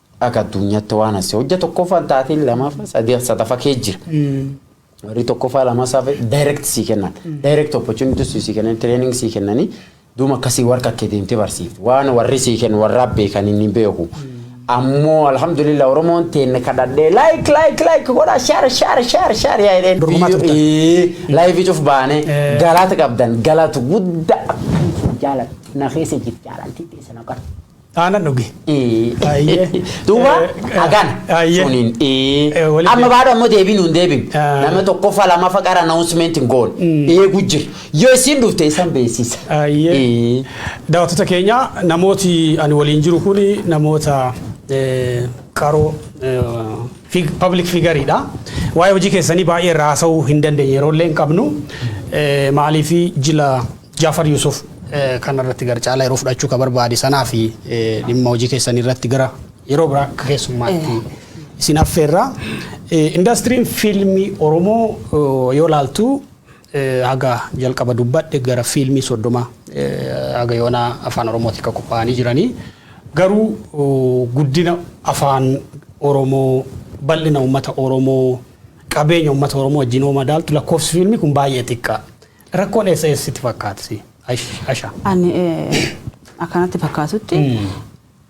Akka addunyaatti waan asii hojja tokkoffaan taateen lamaafa sadii sadafa kee jira. Warri tokkoffaa lama saafe direct sii kennan. Direct opportunity sii kennan training sii kennanii duuma akkasii warra akka deemtee barsiifti. Waan warri sii kennu warraa beekan inni beeku. Ammoo alhamdulillah Oromoon teenne kadhadhee like like like godhaa share share share share yaa jedheen. Dorgomaa turtan. Laayivii cuf baane Eh. galaata qabdan galaatu guddaa akkan jaaladha. Na keessa jirti jaalalti teessa na qarti. Aana dhugi. Ayyee. Duuba Eh, hagan ayyee. suniin ee. Eh, walitti- amma baadhu ammoo deebiin nuun deebin Ah. nama tokkoffaa lamaffaa qara announcement hin goone eegu jira yoo isin dhufte isan beeksisa. Ayyee. Eh. Daawwattoota keenya namooti ani waliin jiru kun namoota eh, qaroo eh, fig- public figariidha. Waa'ee hojii keessanii baay'ee irraa haasa'uu hin dandeenye yeroo illee hin qabnu. Eh, Maaliif jila Jafar Yusuf kana irratti gara caalaa yeroo fudhachuu ka barbaade sanaa fi dhimma hojii keessanii irratti gara yeroo biraa akka keessummaatti isin affeerra. Indastiriin fiilmii Oromoo yoo laaltu haga jalqaba dubbadhe gara fiilmii soddoma haga yoonaa afaan Oromootiin kan qophaa'anii jiranii. Garuu guddina afaan Oromoo bal'ina uummata Oromoo qabeenya uummata Oromoo wajjin yoo madaaltu lakkoofsi fiilmii kun baay'ee xiqqaa. Rakkoon eessa eessa sitti fakkaata si? Ash- Asha. Ani eh, akkanatti fakkaatutti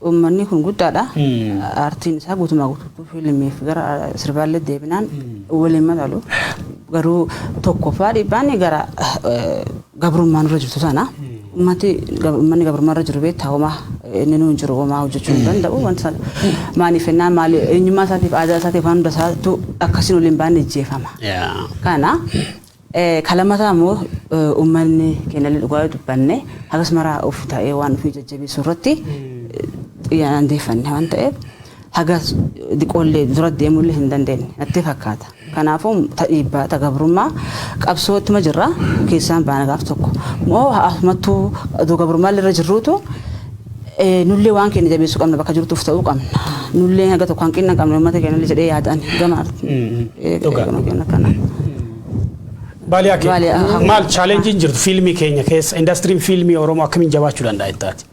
uummanni kun guddaadha. Mm. Aartiin isaa guutumaa guutuutti fiilmiif gara ah, sirbaallee deebinaan waliin madaalu. Garuu tokkoffaa dhiibbaan gara eh, gabrummaan irra jirtu sana. Uummati gab- uummanni gabrummaa irra jiru beektaa homaa inni nuun jiru homaa hojjechuu hin danda'u. Wanti sana maaliif jennaan maali eenyummaa isaatiif aadaa isaatiif waan hunda isaatu akkasiin waliin baanee jeefama. Yaa. Kana Ka lamataa immoo ummanni keenyallee dhugaa yoo dubbanne hagas maraa of ta'ee waan ofii jajjabeessuu irratti xiyyaanaan deeffanne waan ta'eef haga diqoollee dura deemullee hin dandeenye natti fakkaata. Kanaafuu ta dhiibbaa ta gabrummaa qabsoo ittuma jirra keessaan baana gaaf tokko. Moo hafumattuu adoo gabrummaallee irra jirruutu Nullee waan keenya jabeessuu qabna bakka jirtu of ta'uu qabna. Nullee haga tokko hanqina qabna uummata keenyallee jedhee yaada ani gama Dhugaa. gama keenya kana. Baaliyaa kee Baaliyaa, haa- maal chaalenjiin jirtu fiilmii keenya keessa indastiriin fiilmii Oromoo akkamiin jabaachuu danda'a jettaati?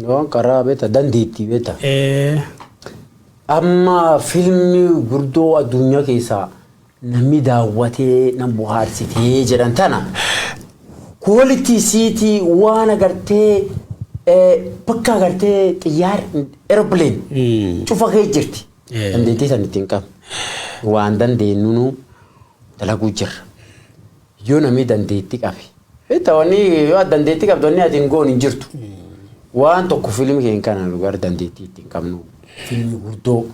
Waan karaa beekta dandeettii beekta. Eh, Amma fiilmii gurguddoo addunyaa keessaa namni daawwatee nan bohaarsite jedhan tana quality isiitii waan agartee eh, bakka agartee xiyyaar aeroplane Mm. cufa kee jirti Eh. dandeettii san ittiin qabne waan dandeenyuunu dalaguu jirra yoo namni dandeettii qabe Beektaa wanni yoo ati dandeettii qabdu wanni ati hin goone hin jirtu. Waan tokko fiilmii keenya kana nu gara dandeettii ittiin qabnu fiilmii guddoo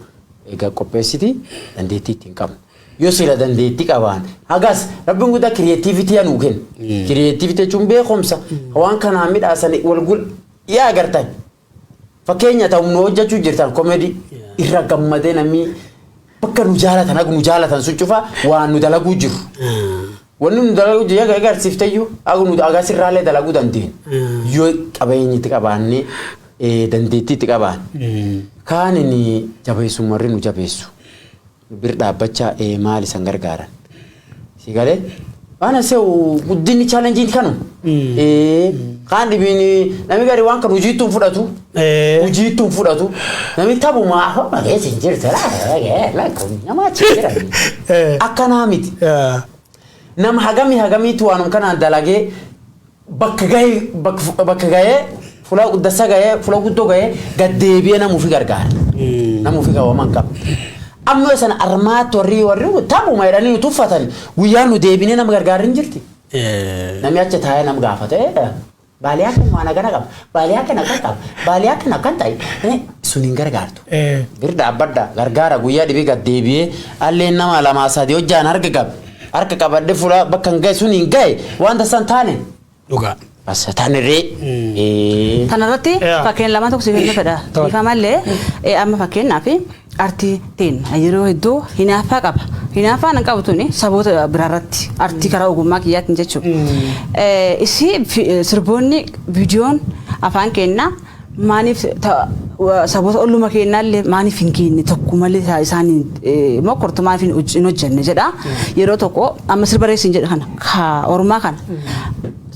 egaa qopheessiti dandeettii ittiin qabnu. Yoo sila dandeettii qabaan hagas rabbiin guddaa kiriyeetiivitiyaa nuu kenna. Kiriyeetiivitii jechuun beekumsa waan kanaan midhaasanii wal gul yaa agartan. Fakkeenya ta'u nu hojjachuu jirtan comedy irra gammadee namni bakka nu jaalatan haga nu jaalatan sun cufa waan nu dalaguu jiru. Wanni nu dalaguu jiru egaa agarsiifteyyuu haga nu haga sirraallee dalaguu dandeenyu. Yoo qabeenyi itti qabaannee eh, dandeettii itti qabaan. Kaan inni jabeessu marri nu jabeessu. nu bir dhaabbachaa ee maal isan gargaaran si galee waan aseewu guddinni chaalenjiin kanu ee kaan dhibiin nami gari waan kan hojiittu hin fudhatu Eh. hojiittu hin fudhatu nami taphuma afaan malee siin jirta namaa achi jira Eh. akkanaa miti Eh. nama hagamii hagamiitu waanum kanaan dalagee bakka gahee bakka bakka gahee fulaa guddassa gahee fulaa guddoo gahee gad deebi'ee nama ofii gargaara. Nama ofii qabu aman qaba. Amma yoo sana armaatti warri warri kun taphuma jedhanii nu tuffatanii guyyaa nu deebinee nama gargaarri hin jirti. Eh, Namni achi taa'ee nama gaafata. "Eh, Baaliyaa kan waan akkana qaba. Baaliyaa kan akkan qaba. Baaliyaa kan akkan ta'e. Eh, Sun hin gargaartu. eh. Bir dhaabbadha gargaara guyyaa dhibii gad deebi'ee alleen nama lamaa sadii hojjaan harga qabe. Harka qabadhe fuula bakka hin gahe sun hin gahe waan tasaa hin taane. Dhugaa. As taanirree. Eh. Kanarratti Yeah. fakkeen lama tokko siif hin fedha. Tole. Bifa malee eh, amma fakkeenyaaf artii teenna yeroo hedduu hinaaffaa qaba. Hinaaffaan hin qabu tuni saboota biraarratti artii karaa ogummaa kiyyaatiin jechuudha. Eh, Isii fi- eh, sirboonni viidiyoon afaan keennaa Maaniif saboota olluma keennaallee maaniif hin keenne tokko malee taa isaan mokkortu maaniif hin hoj- hin hojjenne jedha. Yeroo tokko amma sirba reessiin jedhe kana ka ormaa kana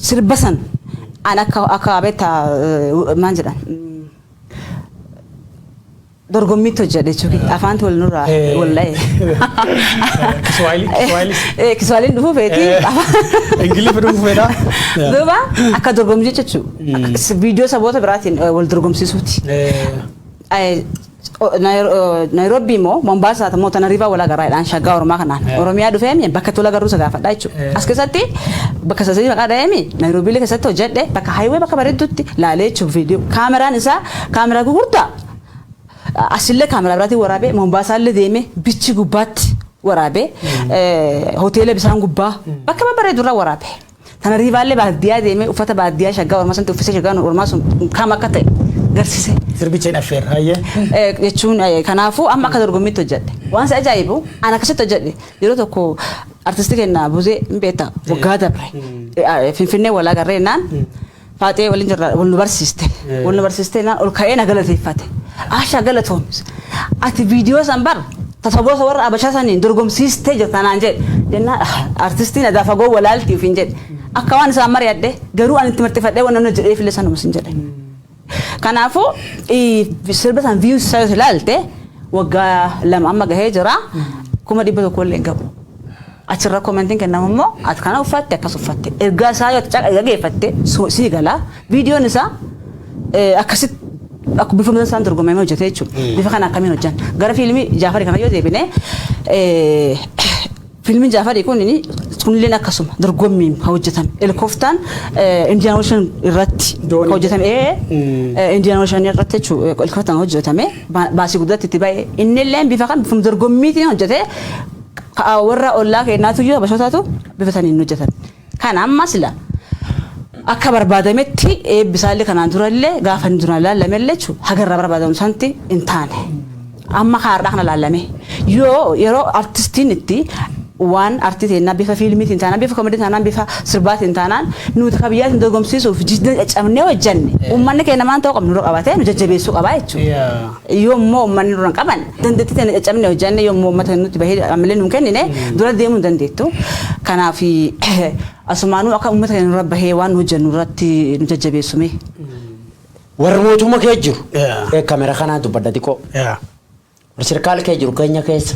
sirba san an akka akka beektaa maal jedhan Dorgommiitti hojjedhe jechuun afaanti wal nurraa Eh. wal dha'e. Kiswaayilii- Kiswaayilis. Eh, Kiswaayiliin dhufuu feeti. Ingiliffi dhufuu feetaa? Yeah. Duuba akka dorgommii jechuudha. Viidiyoo saboota biraatiin eh, wal dorgomsiisuuti. Eh, o- Nairo- o- Nairoobii immoo Mombaasaa immoo Tanariivaa wal agarraadhaan shaggaa Oromaa kanaan. Eh. Oromiyaa dhufeemi bakka tola garuu isa gaafadhaa jechuudha. Eh. As keessatti bakka sadii maqaa dha'eemi Nairoobii keessatti hojjedhe bakka haayiwee bakka bareedduutti laalee jechuudha viidiyoo. Kaameraan isaa kaameraa gurgurtaa Asille kaameraa biraatiin waraabee Mombaasaalle deemee bichi gubbaatti waraabee hoteela bisaan gubbaa bakka babbareedu irraa waraabe. Tana riivaallee baadiyyaa deemee uffata baadiyyaa shaggaa ormaa sanatti uffisee shaggaa ormaa sun kam akka ta'e garsise. Sirbicha hin affeerra hayyee. Eh, jechuun eh, kanaafuu amma akka dorgommiitti hojjedhe waan si ajaa'ibu an akkasitti hojjedhe yeroo tokko artisti keenya buzee hin beekta waggaa dabre Eh, ah, finfinnee walaa garreennaan Faaxee waliin jirra wal nu barsiiste. Wal nu barsiiste naan ol ka'ee na galateeffate. Aashaa galatoomis. Ati viidiyoo san bar tasaboosa warra abashaa saniin dorgomsiistee jirta naan jedhe. Jennaan artistiin adaa fagoo walaalti ofiin jedhe. Akka waan isaan mari'adhe garuu ani itti marxifadhee waan namni jedheef illee sanuma sin jedhe. Kanaafuu sirba san viyuus isaa yoo ilaalte waggaa lama amma gahee jira kuma dhibba tokko illee hin gahu. Achi irra commentin kennamu immoo ati kana uffatte akkas uffatte ergaa isaa yoo dhageeffatte sii gala videon isaa akkasit akka bifa mata isaan dorgomee hojjete jechuudha. Bifa kana akkamiin hojjan gara fiilmii Jaafarii kana yoo deebine fiilmiin Jaafarii kun kunilleen akkasuma dorgommiin kan hojjetame helikoftaan Indiyaan Ooshan irratti kan hojjetame Indiyaan Ooshan irratti jechuudha helikoftaan hojjetame baasii guddaatti itti ba'e innilleen bifa kan bifa dorgommiitiin hojjete Ka worra ollaa keennaatuyyuu Habashootatu bifa saniin hin hojjatan. Kan amma sila akka barbaadametti eebbi isaallee kanaan durallee gaafa inni duraan laallamellee jechuudha haga irraa barbaadamu santi hin taane. Amma kaardhaa kana laallamee yoo yeroo artistiin itti waan artii teennaa bifa fiilmiitiin taanaan bifa komedii taanaan bifa sirbaatiin taanaan nuti ka biyyaatiin dorgomsiisuuf jidda caccabnee hojjanne uummanni keenya maanta yoo qabnu nu qabatee nu jajjabeessuu qabaa jechuudha. Yoommoo ummanni nurra hin qaban dandeettii teenya caccabnee hojjanne yoommoo ummata nutti bahee ammallee nu hin kennine dura deemuu hin dandeettu. Kanaaf asumaanuu akka ummata keenya nurra bahee waan nu hojjannu irratti nu jajjabeessu mee. Warri mootumma kee jiru. Kamera kanaan dubbadha xiqqoo. Warri sirkaal kee jiru keenya keessa.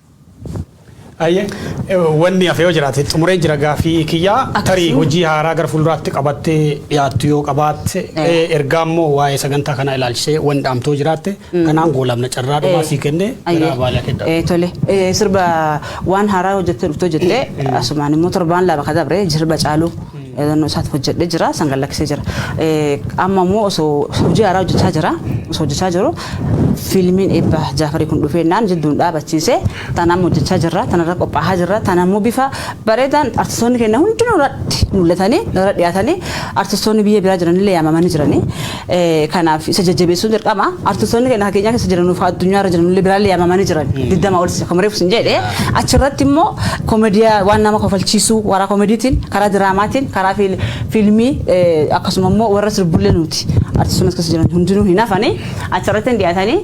Ayyee wanni hafe yoo jiraate xumuree jira gaafii kiyyaa Akkasuma. tarii hojii haaraa gara fuulduraatti qabattee dhiyaattu yoo qabaatte Eh. eh, ergaa immoo waa'ee sagantaa kanaa ilaalchisee wanni dhaamtoo jiraatte kanaan goolabna carraa dhumaa sii kenne gara baalaa kenna. Eh, tole Eh, sirba waan haaraa hojjettee dhuftoo jettee asumaan immoo torbaan lama ka dabre sirba caaluu Yaadannoo isaatti hojjedhee jira. San gad lakkisee jira. Amma immoo osoo hojii haaraa hojjechaa jira. Osoo hojjechaa jiru fiilmiin eebba Jaafarii kun dhufee naan jidduun dhaabachiise. Tan amma hojjechaa jirra. Tanarra qophaa'aa jirra. Tan ammoo bifa bareedaan artistoonni keenya hundinuu irratti mul'atanii irra dhiyaatanii artistoonni biyya biraa jiranillee yaamamanii jiranii. Kanaaf isa jajjabeessuun dirqama. Artistoonni keenya keenyaa keessa jiran nuuf addunyaa irra jiran illee biraallee yaamamanii jiran. Digdama ol akkuma reefu sin jedhe. Achirratti immoo koomediyaa waan nama kofalchiisuu karaa koomediitiin, karaa diraamaatiin, karaa fiilmii akkasuma immoo warra sirbullee nuti artistoonni as keessa jiran hundinuu hin hafanii achirratti hin dhiyaatanii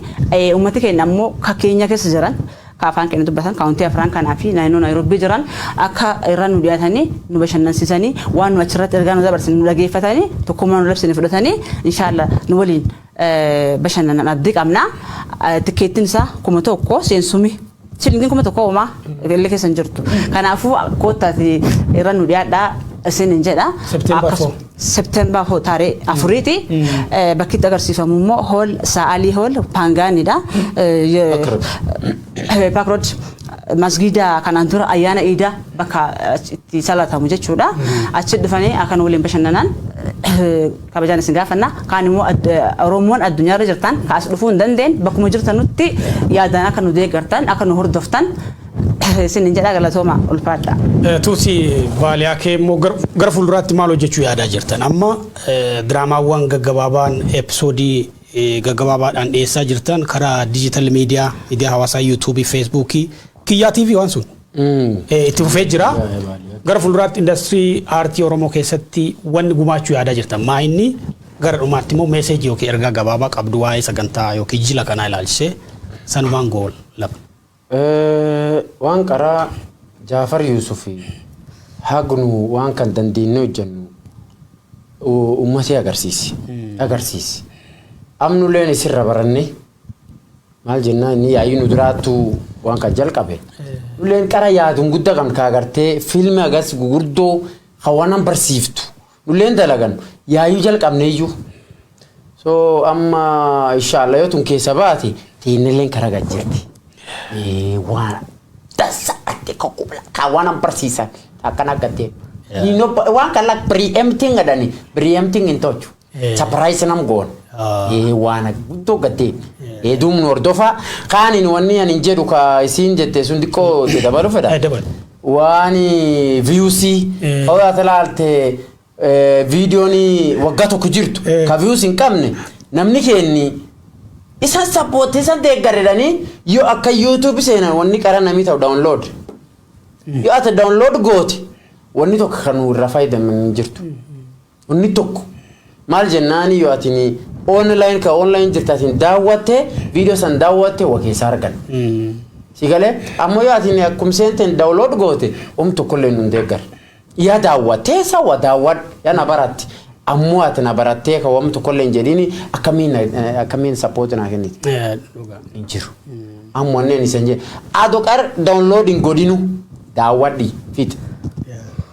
uummati keenya immoo kan keenya keessa jiran Ka afaan keenya dubbatan kaawuntii afran kanaa fi naannoo Naayirobbii jiran akka irra nu dhiyaatanii nu bashannansisanii waan nu achirratti ergaa nu dabarsine nu dhageeffatanii tokkummaa nu labsine fudhatanii inshaalla nu waliin bashannanan abdii qabna. Tikkeettiin isaa kuma tokko seensumi shilingin kuma tokko homaa illee keessa hin jirtu. Kanaafuu koottaati irra nu dhiyaadhaa isin hin jedha. September Akkasu- 4. September ho taaree afuriiti. Bakki itti agarsiifamu immoo hool Sa'aalii hool Paangaanidha. Paakrood masgiida kanaan dura ayyaana iidaa bakka itti salatamu jechuudha. Achi dhufanii akka nu waliin bashannanaan kabajaan isin gaafanna. Kaan immoo Oromoon addunyaarra jirtan kaas dhufuu hin dandeenye bakkuma jirtanutti yaadaan akka nu deeggartan akka nu hordoftan Isin hin jedhaa galatooma ulfaadha. Tuusi vaaliyaa kee immoo gar- gara fuulduraatti maal hojjechuu yaadaa jirtan? Amma eh, diraamaawwan gaggabaabaan episoodii eh, gaggabaabaadhaan dhiyeessaa jirtan karaa dijital miidiyaa, miidiyaa hawaasaa yuutuubii, feesbuukii, kiyyaa TV waan sun eh, itti fufee jira. Gara fuulduraatti indastirii aartii Oromoo keessatti wanni gumaachuu yaadaa jirtan maa inni gara dhumaatti immoo meeseejii yookiin ergaa gabaabaa qabdu waa'ee sagantaa yookiin jila kanaa ilaalchisee sanumaan gool laba. Waan qaraa Jaafar Yuusufi hagnu waan kan dandeennee hojjennu ummatii agarsiisi agarsiisi amnuleen isirra baranne maal jennaa inni yaa'ii nu duraattu waan kan jalqabe nuleen qara yaadun gudda kan kaagartee fiilmi agas gugurdoo hawanan barsiiftu Nulleen dalagan yaayuu jalqabneeyyuu. So amma inshallah yoo tun keessa baate teennilleen karaa gad jirti. Eh, Waan dansa atte kokkubla kaa waan an barsiisan akkana gaddee. Yeah. Ni no ba- waan kan lak preempting adani preempting hin tolchu. Yeah. Surprise nam goon. Ah. Eh, Waan guddoo gaddee. Eh, duumnu hordofaa kaaniin wanni an hin jedhu kaa isiin jette sun xiqqoo itti dabalu fedha. Eh, dabalu. Waan views hoo ati laalte viidiyoon waggaa tokko jirtu ka views hin qabne namni keenni isan sabbootti isan deeggaredhanii yoo akka YouTube seenan wanni qara namii ta'u download yoo ati download goote wanni tokko kan nu irraa fayyadaman hin jirtu. Inni tokko maal jennaani yoo atini online ka online jirta atin daawwatte video san daawwatte wa keessaa argan. Si galee ammoo yoo atini akkum seenten download goote um tokkollee nun deeggar. Yaa daawwattee sa wa daawwad yaa na baratti. Ammoo ati na barattee ka wam tokkollee hin jedhini akkamiin na- akkamiin support naa kenniti. Eh, dhugaa. hin jiru. Amma onneen isan jedhe. Ado qar downloading godhinu daawwadhi fit.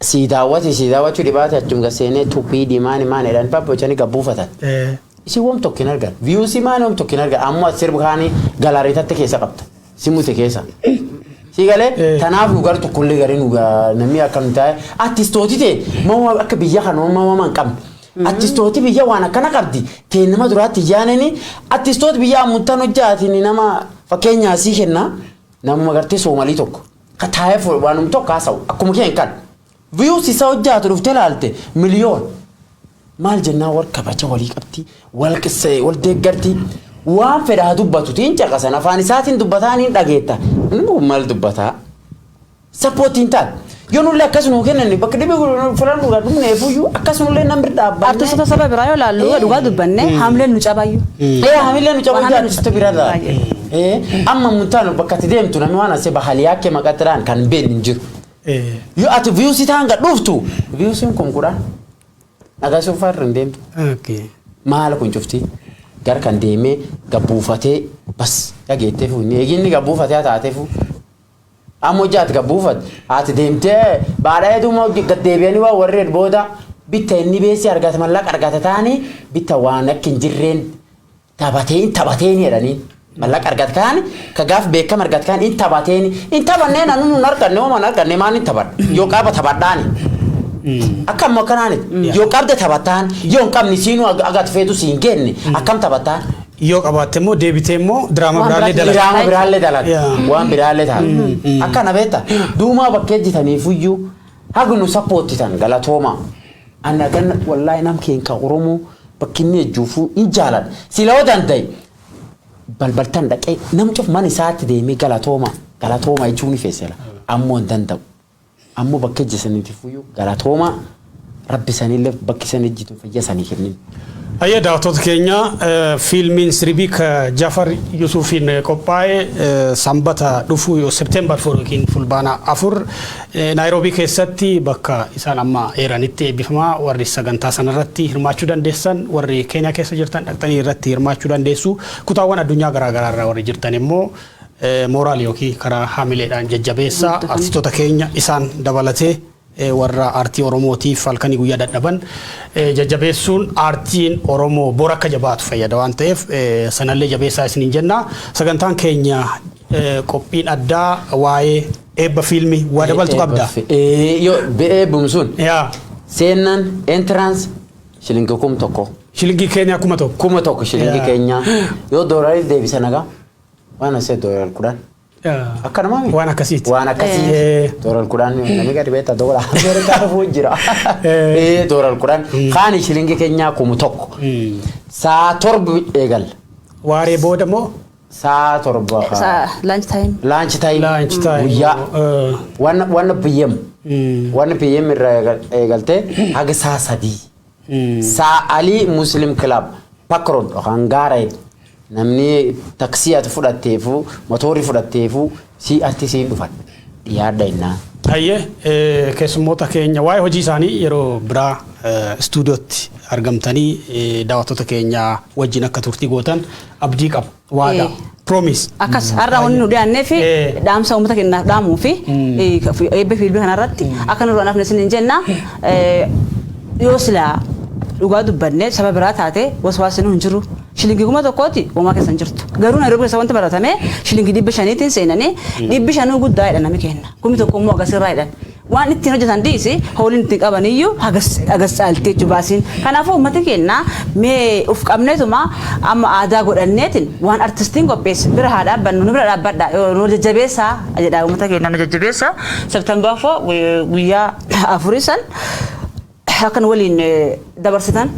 Sii daawati sii daawachu dhibaate achum gad seenee tupii dhimaani maan edhan babbochani gad buufatan. Isin wom tokko hin argan. Views maan wom tokko hin argan. Ammoo ati sirb kaani gallery tatte keessa qabda. Si mute keessa. Sii galee tanaaf nu gar tokkollee garee nu namni akka nu taa'e artistooti ta'e mawwa akka biyya kana mawwa mawwa hin qabne. Artistooti biyya waan akkana qabdi ta'e nama duraatti ijaanani artistooti biyya ammuuttan hojjaatiin nama fakkeenyaa sii kenna namuma gartee soomalii tokko. Ka taa'ee fo- waanum tokko haasa'u akkuma keen kan views isa hojjaatu dhuftee laalte miliyoon maal jennaan wal kabaja walii qabdi wal qisse wal deeggarti waan fedha haa dubbatu tiin caqasan afaan isaatiin dubbataa niin dhageetta inni kun maal dubbataa sappoottiin taat yoo nullee akkas nuu kennanne bakka dhibee filannu irraa dhumnee fuyyuu akkas nullee nan bira dhaabbanne Artistoota saba biraa yoo laallu dhugaa dubbanne haamleen nu cabayyu. Ee hamilee nu Waan cabaa hamileen nu jiraatu sirta bira irraa. Baay'ee. Eh, amma muntaanu bakka ati deemtu namni waan asee bahaliyaa kee maqaxiraan kan beeknu hin jiru. Eh, Yoo ati viyuusii taan gad dhuftu viyuusiin kun kudhaan dhagaasuuf farri hin deemtu. okay. Maala kun cufti gar kan deemee gabbuufatee bas dhageettee fuunni eeginni gabbuufatee haa taateefu. Amma hojii ati gabbuufat ati deemtee baadhaa heddummaa gad deebi'anii waa warreen booda bitta inni beessi argata mallaqa argata taanii bitta waan akka hin jirreen Tabatee hin tabateeni jedhaniin. Mallaqa argat kaan ka gaaf beekama argat kaan hin tabateeni hin tabannee nanu nun arganne homa hin arganne maan hin tabadha yoo qaba tabadhaani. Akka ammoo akkanaani yoo qabde tabataan yoo hin qabne siinuu ag- agat feetu siin geenne akkam tabataan. Yoo qabaatte immoo deebitee immoo diraama Waan biraallee biraatti dalaga. Diraama biraallee dalaga. Yaa. Waan biraallee ta'a. Akkana beekta duumaa bakkee jitaniifuyyuu Hag nu sappoottitan galatoomaa. Ana ganna wallahi nam keen ka oromoo bakki inni ejjuufu hin jaaladha sila yoo dandaye balbaltan dhaqee nam cuf man isaatti deemee galatooma galatooma jechuu ni feesela ammoo hin danda'u ammoo bakka ejjesaniitifuyyuu galatooma rabbi sanillee bakki san ejjitu fayya sanii kennin. Hayyee daawwattoota keenya fiilmiin siribii ka Jafar Yusufiin qophaa'e Sanbata dhufu yoo September 4 yookiin Fulbaana 4 Naayiroobii keessatti bakka isaan amma eeranitti eebbifama. Warri sagantaa sanarratti hirmaachuu dandeessan warri Keeniyaa keessa jirtan dhaqxanii irratti hirmaachuu dandeessu. Kutaawwan addunyaa garaa garaa irraa warri jirtan immoo mooraal yookiin karaa haamileedhaan jajjabeessa artistoota keenya isaan dabalatee warra aartii Oromootiif halkanii guyyaa dadhaban jajjabeessuun aartiin Oromoo bor akka jabaatu fayyada waan ta'eef sanallee jabeessaa isiniin jenna. Sagantaan keenya qophiin addaa waa'ee eebba fiilmii waa dabaltu qabda. Eebbum sun Yaa seennan entrance shilingi kum tokko. shilingii keenya kuma tokko. Kuma tokko shilingi Yaa. keenyaa yoo doolarii deebisan hagaa waan asee doolarii kudhan. Akka namaa miti. Waan akkasiiti. Waan akkasii. Eh. Doolar kudhan namni gadi beektaa doolar Ameerikaa dhufuu jira. Eh. Eh, Doolar kudhan. Kaani shilingi keenyaa kumu tokko. Saa torba eegalla. Waaree booda immoo Saa torba. Sa- lunch time Laanchi taayim. laanchi taa'e. Guyyaa. Wanna wanna PM. Wanna PM irraa eegal- eegaltee haga saa sadii. Saa Alii Muslim Club Park Road yookaan Gaareed namni taksii ati fudhatteefu motoorri fudhatteefu si arti siin dhufan dhiyaadha innaa. Hayyee eh, keessummoota keenya waa'ee hojii isaanii yeroo biraa eh, istuudiyootti argamtanii eh, daawwattoota keenya wajjin akka turtii gootan abdii qaba. Waadaa. Eh. Promise. Akkas har'a wanni nu dhiyaannee fi Eh. dhaamsa uummata keenyaaf dhaamuu fi Mm. eh, ka- fi- eebba fi ilbii kanarratti akka nurra nafne isiniin jenna eh, yoo silaa dhugaa dubbanne saba biraa taate waswaasni hin jiru. Shilingii kuma tokkooti uumaa keessa hin jirtu. Garuu Nairobi keessa wanti baratame shilingii dhibba shaniitiin seenanii dhibbi shanuu guddaa jedhan nami kenna. Kumi tokko immoo akkasirraa jedhan. Waan ittiin hojjetan dhiisi hooliin ittiin qabaniyyuu hagas hagas caalti jechuudha baasiin. Kanaafuu uummati keenya mee of qabneetuma amma aadaa godhanneetiin waan artistiin qopheesse bira haa dhaabbannu nu bira dhaabbadhaa yoo nu jajjabeessaa jedhaa uummata keenya nu jajjabeessaa September 4 guyyaa afurii san akka nu waliin dabarsitan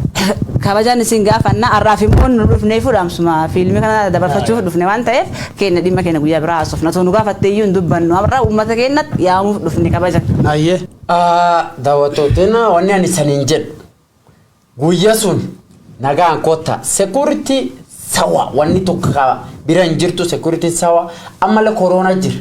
kabajaan isin gaafanna har'aaf immoo nu dhufnee fudhaamsuma fiilmii kana dabarfachuuf dhufne waan ta'eef keenya dhimma keenya guyyaa biraa haasofna osoo nu gaafatte iyyuu hin dubbannu har'a uummata keenyatti yaamuuf dhufne kabaja. Ayyee. Daawwattootiin wanni ani saniin jedhu guyyaa sun nagaan kottaa sekuuritii sawa wanni tokko bira hin jirtu sekuuritiin sawa ammallee koroonaa jira.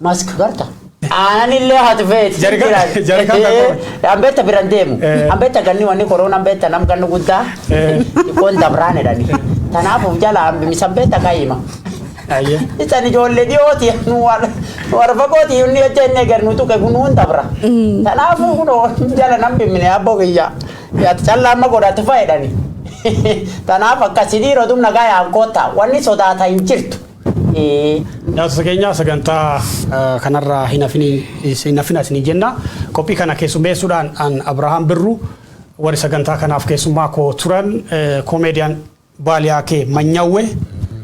Mask garta. Aananillee hati feeti. Jarika- Jira- jarika Eh, tokko. Ambeetta biran deemu. Eh. Ambeetta ganni wanni koroon ambeetta nam ganni guddaa. Eh. Kun dabraan jedhani. Kanaafuu jala ambimisa ambeetta kaayima. Ayyee. Isan ijoollee dhiyooti nu waan warra fagooti inni hojja inni eegar nu tuqe kun nuun dabra. Kanaafuu kunoo jala nam bimmine abboo kiyya. Yaati callaa amma godhatu fayyadani. Kanaaf akkasii dhiiroo tumna gaayaan koottaa wanni sodaata hin jirtu. Daawwattoota keenya sagantaa kanarraa hin hafina isinii jenna. Qophii kana keessummeessuudhaan an Abrahaam Birru warri sagantaa kanaaf keessummaa koo turan Comedian Baaliyaakee Manyawwe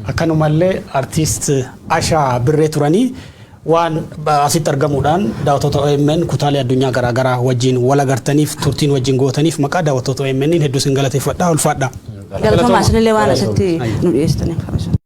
akkanumallee Artist Ashaa Birree turanii waan asitti argamuudhaan daawwattoota OMN kutaalee addunyaa garaa garaa wajjin wal agartaniif turtiin wajjin gootaniif maqaa daawwattoota OMNiin hedduu isin galateeffadha. Ulfaadhaa. Galatoomaa isinillee waan asitti nu dhiyeessitaniif.